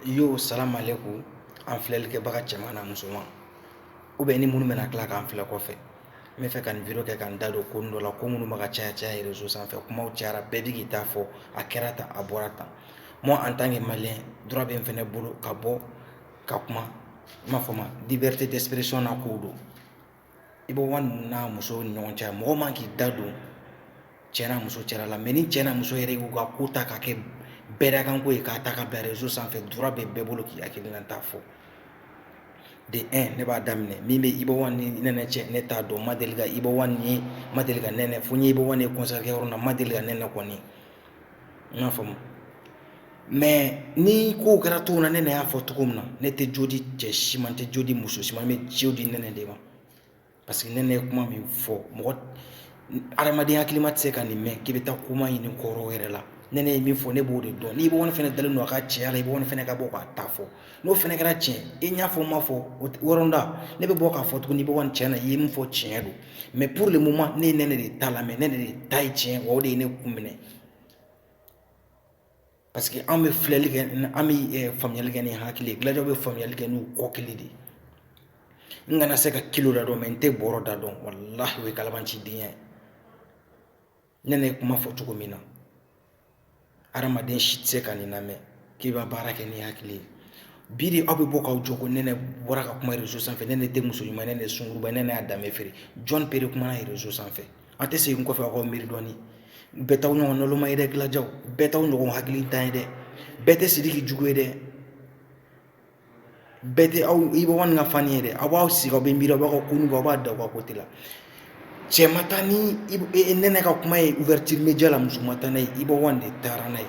yo salamalekum an filɛlikɛbaga cɛman na musoman u bɛɛ ni minnu bɛna tila k'an filɛ kɔfɛ n bɛ fɛ ka nin video kɛ ka n da don ko dɔ la ko minnu bɛ ka caya caya réseau sanfɛ kumaw cayara bɛɛ bɛ k'i ta fɔ a kɛra tan a bɔra tan moi en tant que malien droit bɛ n fɛnɛ bolo ka bɔ ka kuma n b'a fɔ ma liberté d'expression na kow don iba one n'a muso ni ɲɔgɔn cɛ mɔgɔ man k'i da don cɛ n'a muso cɛla la mais ni cɛ n'a muso yɛrɛ y'u ka ko ta ka kɛ bɛɛdakanko ye k'a ta ka bila réseau sanfɛ droit bɛ bɛɛ bolo k'i hakilinata fɔ de un ne b'a daminɛ min bɛ iba one ni nɛnɛ cɛ ne t'a dɔn n ma deli ka iba one ye n ma deli ka nɛnɛ fo n ye iba one ye concert kɛyɔrɔ na n ma deli ka nɛnɛ kɔni n y'a faamu mais ni ko kɛra cogo min na nɛnɛ y'a fɔ cogo min na ne tɛ jo di cɛ si ma n tɛ jo di muso si ma n bɛ jo di nɛnɛ de ma parce que nɛnɛ ye kuma min fɔ mɔgɔ adamadenya hakilima tɛ se ka nin mɛn k'i bɛ taa kuma ɲini kɔrɔ yɛrɛ la nɛnɛ ye min fɔ ne b'o de dɔn ni iba one fɛnɛ dalen don a ka cɛya la iba one fɛnɛ ka bɔ k'a ta fɔ n'o fɛnɛ kɛra tiɲɛ i n'a fɔ ma fɔ wɔɔrɔnda ne bɛ bɔ k'a fɔ tuguni iba one tiɲɛ na i ye min fɔ tiɲɛ don mais pour le moment ne ye nɛnɛ de ta lamɛn nɛnɛ de ta ye tiɲɛ o de ye ne kun minɛ parce que an bɛ filɛli kɛ an bɛ eh, faamuyali kɛ ni hakili ye gladiaw bɛ faamuyali kɛ n'u kɔkili de ye n kana se ka kilo da dɔn mais n tɛ bɔrɔ da dɔn walahi o ye kalabanciden ye nɛnɛ ye kuma fɔ cogo min na adamaden si tɛ se ka nin lamɛn k'i bɛ baara kɛ ni hakili ye bi de aw bɛ bɔ k'aw jɔ ko nɛnɛ bɔra ka kuma réseau sanfɛ nɛnɛ tɛ muso ɲuman nɛnɛ sungurunba nɛnɛ y'a danbe feere jɔn pere kumana réseau sanfɛ an tɛ segin kɔfɛ aw ka miiri dɔɔni bɛɛ t'aw ɲɔgɔn nɔlɔma ye dɛ gladiaw bɛɛ t'aw ɲɔgɔn hakilitan ye dɛ bɛɛ tɛ sidiki jugu ye dɛ bɛɛ tɛ aw iba one ka fan ye dɛ aw b'aw sigi aw bɛ miiri aw b'a kun aw b'a da aw ka côté la cɛ ma taa ni nɛnɛ ka kuma ye ouverture média la muso ma taa n'a ye iba one de taara n'a ye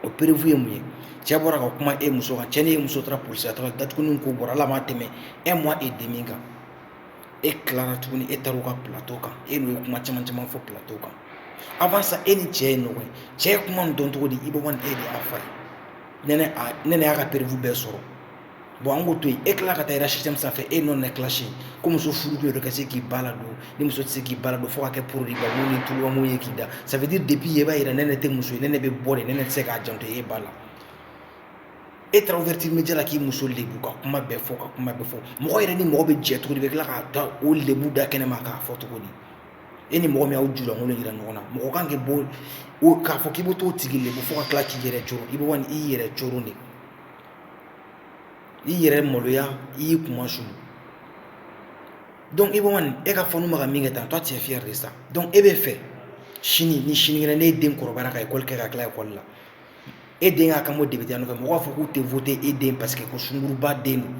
o preuve ye mun ye cɛ bɔra ka kuma e muso kan cɛ ni e muso taara polisi taara dat ko bɔra a la a ma tɛmɛ un mois et demi kan e tilara tuguni e taara u ka plateau kan e n'u ye kuma caman caman fɔ plateau kan avant ça e ni cɛ ye ɲɔgɔn ye cɛ ye kuma nin dɔn cogo di iba one e de y'a f'a ye nɛnɛ y'a ka preuve bɛɛ sɔrɔ bon an k'o to yen e tila ka t'a yira système sanfɛ e nɛnɛ clash ko muso furu kun ye de ka se k'i ba ladon ni muso tɛ se k'i ba ladon fo ka kɛ poroba ni tubabu ye k'i da ça veut dire depuis yen i b'a yira nɛnɛ tɛ muso ye nɛnɛ bɛ bɔ de nɛnɛ tɛ se k'a janto e ba la e taara ouverture média la k'i muso lebu ka kuma bɛɛ fɔ ka kuma bɛɛ fɔ mɔgɔ yɛrɛ ni mɔgɔ bɛ jɛ cogo di bɛ tila ka taa o lebu da kɛnɛ ma k'a fɔ cogo di e ni mɔgɔ min y'aw julankolon yira ɲɔgɔn na mɔgɔ kan k'i bɔ o k'a fɔ k'i bɛ t'o tigi lebu fo ka tila k'i yɛrɛ coron iba one i y'i yɛrɛ coron de i yɛrɛ maloya i y'i kunmasuuli donc iba one e ka fanw bɛ ka min kɛ tan toi tu es fier de ça donc e bɛ fɛ sini ni sinikɛnɛ n'e den kɔrɔbayara ka école kɛ ka tila école la e den k'a kan bɔ depiteya nɔfɛ mɔgɔw b'a fɔ k'u tɛ voter e den parce que ko sunguruba den don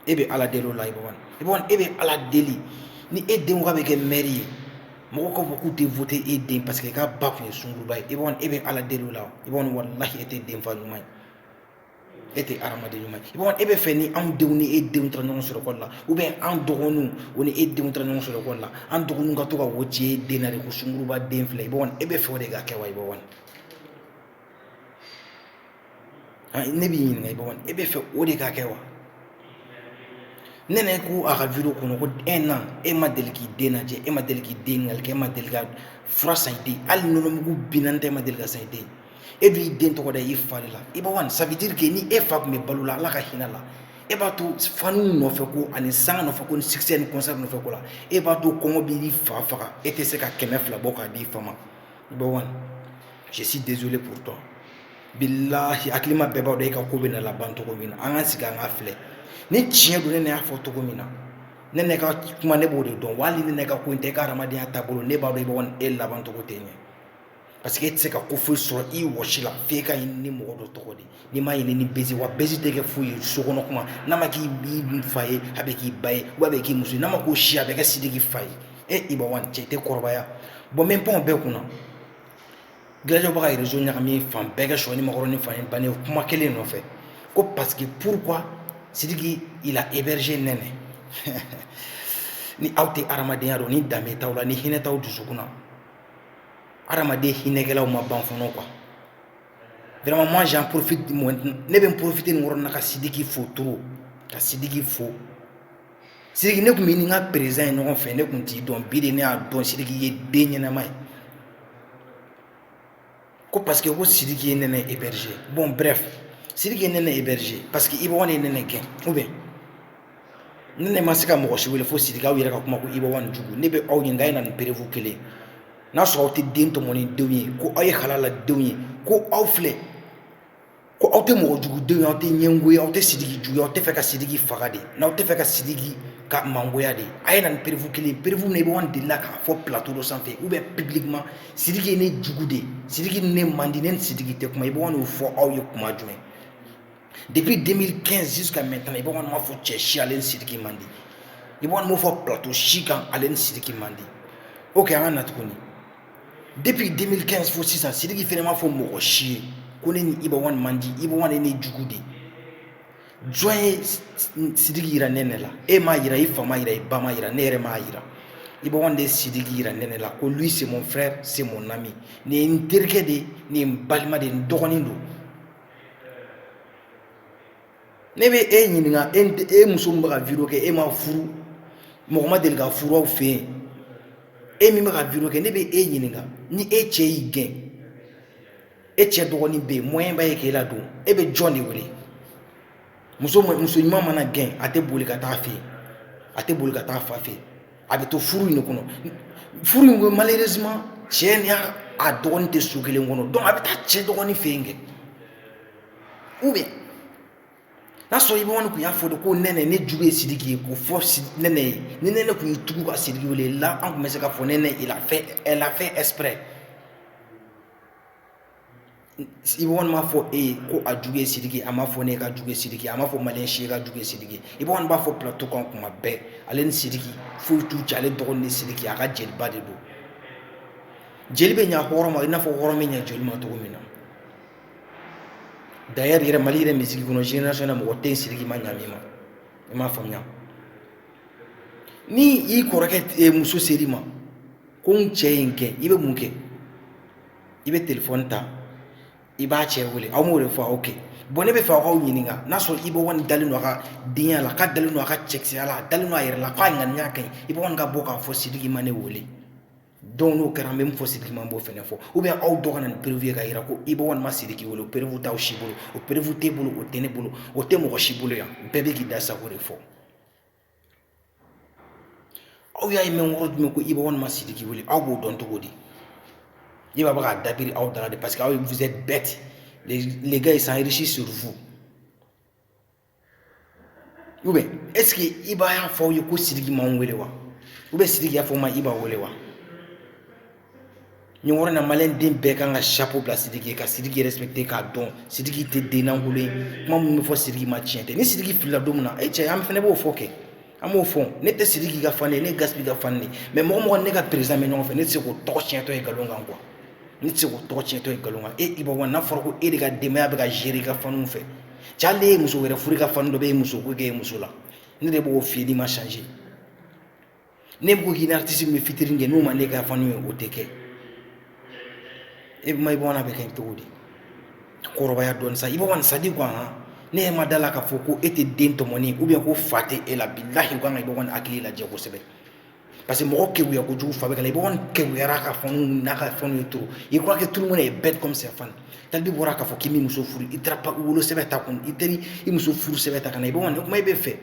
e bɛ ala deli o la Iba One Iba One e bɛ ala deli ni e den k'a bɛ kɛ mɛri ye mɔgɔw k'a fɔ k'u tɛ voter e den parce que k'a ba tun ye sunguruba ye Iba One e bɛ ala deli o la Iba One walahi e tɛ denfa ɲuman ye e tɛ hadamaden ɲuman ye Iba One e bɛ fɛ ni anw denw ni e denw taara ɲɔgɔn sɔrɔ école la ou bien an dɔgɔninw o ni e denw taara ɲɔgɔn sɔrɔ école la an dɔgɔninw ka to ka wo ci e den na de ko sunguruba den filɛ Iba One e bɛ fɛ o de ka kɛ wa Iba One ne b'i ɲininka Iba One e bɛ fɛ o de ka kɛ wa Nɛnɛ ko a ka video kɔnɔ ko un an e ma deli k'i den lajɛ e ma deli k'i den ɲininkali kɛ e ma deli ka fura san i den hali nɔnɔmugu binani tɛ e ma deli k'a san i den e dun y'i den tɔgɔ da i fa de la Iba One ça veut dire que ni e fa tun bɛ balo la ala ka hinɛ a la e b'a to fanw nɔfɛ ko ani sanga nɔfɛ ko ni succès ni concert nɔfɛ ko la e b'a to kɔngɔ b'i fa faga e tɛ se ka kɛmɛ fila bɔ k'a di i fa ma Iba One je suis désolé pour toi bilahi hakilima bɛɛ b'a dɔn e ka ko bɛna laban cogo min na an ka sigi an ka filɛ ni tiɲɛ don Nɛnɛ y'a fɔ cogo min na Nɛnɛ ka kuma ne b'o de dɔn wa hali Nɛnɛ ka ko in tɛ e ka hadamadenya taabolo ne b'a dɔn Iba One e laban cogo tɛ ɲɛ parce que e tɛ se ka ko foyi sɔrɔ i wɔsi la f'i k'a ɲini ni mɔgɔ dɔ tɔgɔ de n'i m'a ɲini ni buzz wa buzz tɛ kɛ foyi ye sokɔnɔ kuma n'a ma k'i fa ye a bɛ k'i ba ye ou bien a bɛ k'i muso ye n'a ma k'o si a bɛ kɛ Sidiki fa ye e Iba One cɛ tɛ kɔrɔbaya bon n bɛ pan o bɛɛ kunna Gladiaw bɛ ka réseau ɲagami fan bɛɛ kɛ sɔ nikɔrɔn ni fa ye ban ye kuma kelen nɔfɛ ko parce que pourquoi Sidiki il a hébergé Nɛnɛ ni aw tɛ hadamadenya dɔn ni danbe t'aw la ni hinɛ t'aw dusukun na hadamaden hinɛkɛlaw ma ban fɔlɔ quoi vraiment moi j'en profite ne bɛ n profiter nin yɔrɔ na ka Sidiki fo trop ka Sidiki fo Sidiki ne tun bɛ ni n ka président ye ɲɔgɔn fɛ ne tun t'i dɔn bi de ne y'a dɔn Sidiki ye den ɲɛnama ye ko parce que ko sidiki ye nɛnɛ héberger bon bref sidiki ye nɛnɛ héberger parce que Iba One ye nɛnɛ gɛn ou bien nɛnɛ ma se ka mɔgɔ si wele fo sidiki aw yɛrɛ ka kuma ko Iba One jugu ne bɛ aw ɲininka a ye na ni preuve kelen n'a sɔrɔ aw tɛ den tɔmɔni denw ye ko aw ye halala denw ye ko aw filɛ ko aw tɛ mɔgɔ jugudenw aw tɛ ɲɛgo ye aw tɛ sigi jugu aw tɛ fɛ ka sigi faga de n'aw tɛ fɛ ka sigi ka mangoya de a ye na ni perefu kelen perefu na i b'an de la k'a fɔ ptoro sanfɛ u bɛ pbi ma sigi ne jugu de sigi ne mande ne sigi tɛ kuma i b'a'o fɔ aw ye kuma jumɛn depi den kɛsin ka mɛ tan i b'a ma fɔ cɛ si ale sigi mande i b'a'o fɔ pto si kan ale sigi mande o kɛ an ka na tuguni depuis 2015 fo sisan sidiki fɛnɛ m'a fɔ mɔgɔ si ye ko ne ni ibawan man di ibawan ye ne jugu de jɔn ye sidiki yira nɛnɛ la e m'a yira i fa m'a yira i ba m'a yira ne yɛrɛ m'a yira ibawan de ye sidiki yira nɛnɛ la ko lui c'est mon frère c'est mon ami nin ye n terikɛ de nin ye n balima de n dɔgɔnin don ne bɛ e ɲininka e e muso min bɛ ka vidéo kɛ e ma furu mɔgɔ ma deli ka furu aw fɛ yen e min bɛ ka vidéo kɛ ne bɛ e ɲininka ni e cɛ y'i gɛn e cɛ dɔgɔnin bɛ yen moyen b'a ye k'e ladon e bɛ jɔn de wele muso muso ɲuman mana gɛn a tɛ boli ka taa fɛ yen a tɛ boli ka taa fa fɛ yen a bɛ to furu in de kɔnɔ furu in kɔnɔ malheureusement cɛ ni a dɔgɔnin tɛ so kelen kɔnɔ donc a bɛ taa cɛ dɔgɔnin fɛ yen kɛ ou bien n'a sɔrɔ ibawan kun y'a fɔ de ko nɛnɛ ne jugu ye sidiki ye k'o fɔ nɛnɛ ye ni nɛnɛ kun y'i tugu ka sidiki wele là an kun bɛ se ka fɔ nɛnɛ il a fait elle a fait exprès ibawan m'a fɔ e ye ko a jugu ye sidiki a m'a fɔ ne k'a jugu ye sidiki a m'a fɔ maliyɛn si ye k'a jugu ye sidiki ibawan b'a fɔ plateau kan kuma bɛɛ ale ni sidiki foyi t'u cɛ ale dɔgɔnin ni sidiki a ka jeliba de don jeli bɛ ɲa hɔrɔn ma i n'a fɔ hɔrɔn bɛ ɲa jeli ma cogo min na D'ailleurs yɛrɛ mali yɛrɛ musique kɔnɔ génération na mɔgɔ tɛ sidiki ma ɲa min ma i m'a faamuya ni i kɔrɔkɛ muso ser'i ma ko n cɛ ye n gɛn i bɛ mun kɛ i bɛ téléphone ta i b'a cɛ wele aw m'o de fɔ ok bon ne bɛ fɛ k'aw ɲininka n'a sɔrɔ ibawan dalen don a ka denbaya la k'a dalen don a ka cɛkisɛya la a dalen don a yɛrɛ la k'a ŋaniya ka ɲi iba ka bɔ k'a fɔ sidiki ma ne wele donc n'o kɛra an bɛ min fɔ sidiki ma n b'o fɛnɛ fɔ ou bien aw dɔ ka na ni preuve ye k'a yira ko ibawan ma sidiki wele o preuve t'aw si bolo o preuve t'e bolo o tɛ ne bolo o tɛ mɔgɔ si bolo yan bɛɛ bɛ k'i da sago de fɔ aw y'a ye mɛn yɔrɔ jumɛn ko ibawan ma sidiki wele aw b'o dɔn cogo di iba bɛ k'a dabiri aw dara de parce que aw ye vous êtes bêtes les, les gars ils s'enrichissent sur vous ou bien est-ce que iba y'a fɔ aw ye ko sidiki ma n wele wa ou bien sidiki y'a fɔ n ma iba wele wa nin yɔrɔ na maliyɛn den bɛɛ kan ka chapeau bila sidiki ye ka sidiki respecter k'a dɔn sidiki tɛ den lankolon ye kuma minnu bɛ fɔ sidiki ma tiɲɛ tɛ ni sidiki filila don min na e cɛ an fɛnɛ b'o fɔ kɛ an b'o fɔ ne tɛ sidiki ka fan ye ne gaspi ka fan ye mais mɔgɔ mɔgɔ ne ka président bɛ ɲɔgɔn fɛ ne tɛ se k'o tɔgɔ tiɲɛtɔ ye nkalon kan quoi ne tɛ se k'o tɔgɔ tiɲɛtɔ ye nkalon kan e ibawan n'a fɔra ko e de ka denbaya bɛ ka gérer i ka fanw fɛ cɛ hali e ye muso wɛrɛ furu i ka fan dɔ bɛ e muso ko k'e ye muso la ne de b'o f'i n'i ma changer ne bɛ ko k'i ni artiste min bɛ featuring kɛ n'o ma ne ka fan ye o tɛ kɛ e ma ibawan bɛ kɛ cogo di kɔrɔbaya dɔn sa iba c'est à dire quoi ne ma da la k'a fɔ ko e tɛ den tɔmɔni ou bien ko fa tɛ e la bilahi nka iba hakili lajɛ kosɛbɛ parce que mɔgɔ kekuya kojugu fa bɛ k'a la Iba One kekuyara ka fɛnw n'a ka fanw ye trop il croit que tout le monde est bête comme ses fans talibi bɔra k'a fɔ k'i m'i muso furu i taara pa wolo sɛbɛn ta kun i teri i muso furu sɛbɛn ta ka na Iba One kuma i bɛ fɛ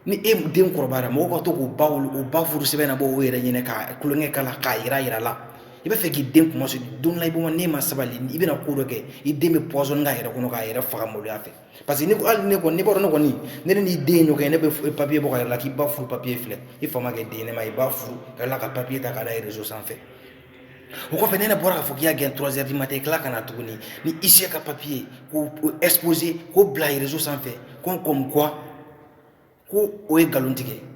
ni e den kɔrɔbayara mɔgɔw ka to k'u ba wolo o ba furu sɛbɛn nabɔ o yɛrɛ ɲɛ na ka kulonkɛ k'a la k'a yira yira la i bɛ fɛ k'i den kunmasuuli don la Iba n'e ma sabali i bɛna ko dɔ kɛ i den bɛ pɔsɔni k'a yɛrɛ kɔnɔ k'a yɛrɛ faga maloya fɛ parce que ne ko hali ne kɔni ne b'a dɔn ne kɔni ne ni n'i den ɲɔgɔn ye ne bɛ papiye bɔ k'a yira a la k'i ba furu papiye filɛ i fa ma kɛ den ne ma i ba furu ka tila ka papiye ta k'a da rezo sanfɛ o kɔfɛ nɛnɛ bɔra k'a fɔ k'i y'a gɛn trois heures du matin i tila ka na tuguni ni huissier ka papiye k'o exposer k'o bila rezo sanfɛ ko comme quoi ko o ye nkalon tigɛ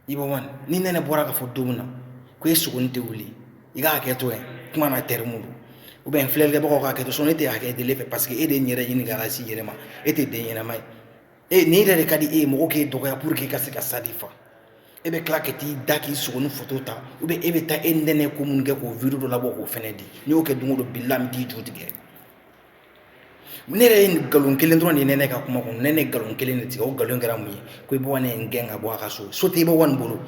Iba One ni nɛnɛ bɔra k'a fɔ don min na ko e sogoni tɛ wuli i ka hakɛ to yan kuma na terme don ou bien filɛlikɛbagaw ka hakɛ to sinon ne tɛ hakɛ deli fɛ parce que e de ye n yɛrɛ ɲini ka se i yɛrɛ ma e tɛ den ɲɛnama ye nin yɛrɛ de ka di e ye mɔgɔ k'e dɔgɔya pour que i ka se ka stade fa e bɛ tila ka t'i da k'i sogoni foto ta ou bien e bɛ taa e nɛnɛ ko minnu kɛ k'o video dɔ labɔ k'o fɛnɛ di n'i y'o kɛ don o don bilahi n bɛ t'i ju tigɛ ne yɛrɛ ye nkalon kelen dɔrɔn de ye nɛnɛ ka kuma kɔnɔ nɛnɛ ye nkalon kelen de tigɛ o nkalon kɛra mun ye ko Iba One ye n gɛn ka bɔ a ka so so tɛ Iba One bolo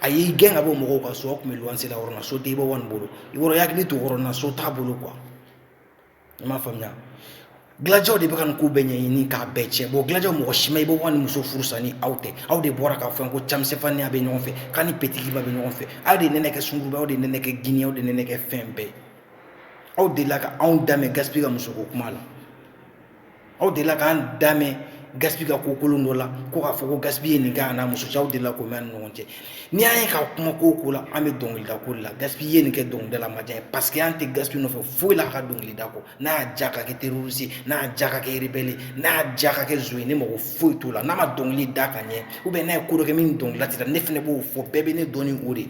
a y'i gɛn ka bɔ mɔgɔw ka so aw tun bɛ luwanse la yɔrɔ min na so tɛ Iba One bolo i yɔrɔ i hakili to yɔrɔ min na so t'a bolo quoi i m'a faamuya Gladiaw de bɛ ka nin ko bɛɛ ɲɛɲini k'a bɛɛ tiɲɛ bon Gladiaw mɔgɔ si ma Iba One muso furu sa ni aw tɛ aw de bɔra k'a fɔ ko camisɛfan ni a bɛ ɲɔgɔn fɛ k'a ni Petit Guimba bɛ ɲɔgɔn fɛ aw de nɛnɛ kɛ sunguruba aw de nɛnɛ kɛ gini aw de nɛnɛ kɛ fɛn bɛɛ aw delila ka anw da mɛn Gaspi ka musoko kuma la aw delila k'an da mɛn Gaspi ka ko kolon dɔ la ko k'a fɔ ko Gaspi ye nin kɛ a n'a muso cɛ aw delila k'o mɛn an ni ɲɔgɔn cɛ n'i y'an ye ka kuma ko o ko la an bɛ dɔnkilida ko de la Gaspi ye nin kɛ dɔnkilida la a ma diya n ye parce que an tɛ Gaspi nɔfɛ foyi la a ka dɔnkilida kɔ n'a y'a diya ka kɛ terroriste n'a y'a diya ka kɛ rebelle n'a y'a diya ka kɛ zon ye ne mago foyi t'o la n'a ma dɔnkili da ka ɲɛ ou bien n'a ye ko dɔ kɛ min ni dɔnkilida tɛ taa ne fana b'o fɔ bɛɛ bɛ ne dɔn ni o de ye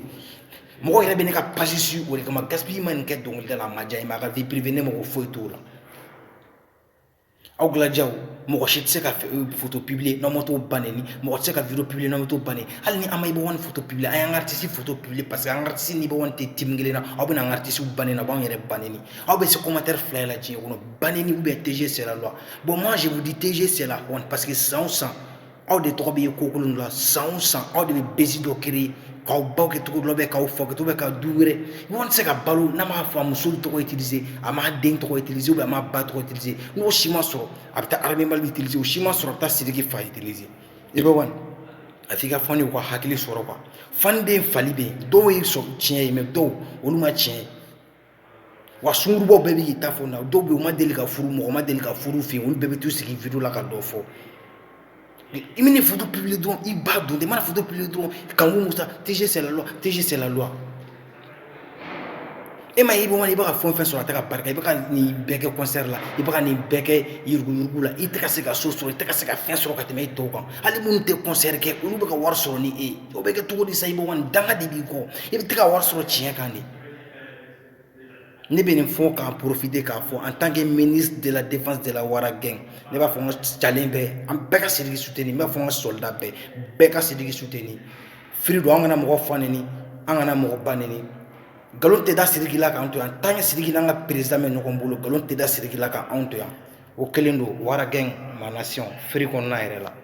mɔgɔ yɛrɛ bɛ ne ka page suivre o de kama Gaspi ma nin kɛ dɔnkilida la a ma diya n ye mais a ka vie privée ne mago foyi t'o la aw Gladiaw mɔgɔ si tɛ se ka foto publier n'aw ma t'o ba nɛni mɔgɔ tɛ se ka video publier n'aw ma t'o ba nɛni hali ni an ma Iba One foto publier an y'an ka artiste foto publier parce que an ka artiste ni Iba One tɛ team kelen na aw bɛna an ka artiste ba nɛni aw b'an yɛrɛ ba nɛni aw bɛ se commentaire fila la diɲɛ kɔnɔ ba nɛni ou bien TG c'est la loi bon moi je vous dis TG c'est la honte parce que san o san aw de tɔgɔ bɛ ye ko kolon dɔ la san o san aw de bɛ buzz dɔ créer k'aw baw kɛ cogo dɔ bɛ k'aw fa kɛ bɛ ka du wɛrɛ Iba One tɛ se ka balo n'a m'a muso tɔgɔ utiliser a m'a den tɔgɔ utiliser a m'a ba tɔgɔ utiliser n'o si ma sɔrɔ a bɛ taa Armée Mali utiliser o si ma sɔrɔ a bɛ taa Sidiki fa utiliser Iba One a f'i ka fanw ye u ka hakili sɔrɔ quoi fanden fali bɛ yen dɔw ye tiɲɛ ye mais dɔw olu ma tiɲɛ ye wa sungurunbaw bɛɛ b'i ta fɔ na dɔw bɛ yen u ma deli ka furu mɔgɔ ma deli ka furu fɛ yen olu bɛɛ bɛ t'u sigi vidéo la ka dɔ fɔ i mana photo publier dɔrɔn i b'a dɔn i mana photo publier dɔrɔn kanku musa tg c'est la loi tg c'est la loi e ma ye iba one i bɛ ka fɛn o fɛn sɔrɔ a tɛ ka barika i bɛ ka nin bɛɛ kɛ kɔnsɛri la i bɛ ka nin bɛɛ kɛ yuruguyugu la i tɛ ka se ka so sɔrɔ i tɛ ka se ka fɛn sɔrɔ ka tɛmɛ e tɔw kan hali minnu tɛ kɔnsɛri kɛ olu bɛ ka wari sɔrɔ ni e ye o bɛ kɛ cogo di sa iba one danga de b'i kɔ i bɛ tɛ ka wari sɔrɔ tiɲɛ kan de ne bɛ nin fɔ k'a profiter k'a fɔ en tant que ministre de la défense de la wara gang ne b'a fɔ n ka calen bɛɛ an bɛɛ ka siriki suteni ne b'a fɔ n ka soldat bɛɛ bɛɛ ka siriki suteni nin firi don an kana mɔgɔ fa neni an kana mɔgɔ ba neni nkalon tɛ da siriki la k'an to yan tant que siriki n'an ka président bɛ ɲɔgɔn bolo nkalon tɛ da siriki la k'an to yan o kɛlen don wara gang manasi firi kɔnɔna yɛrɛ la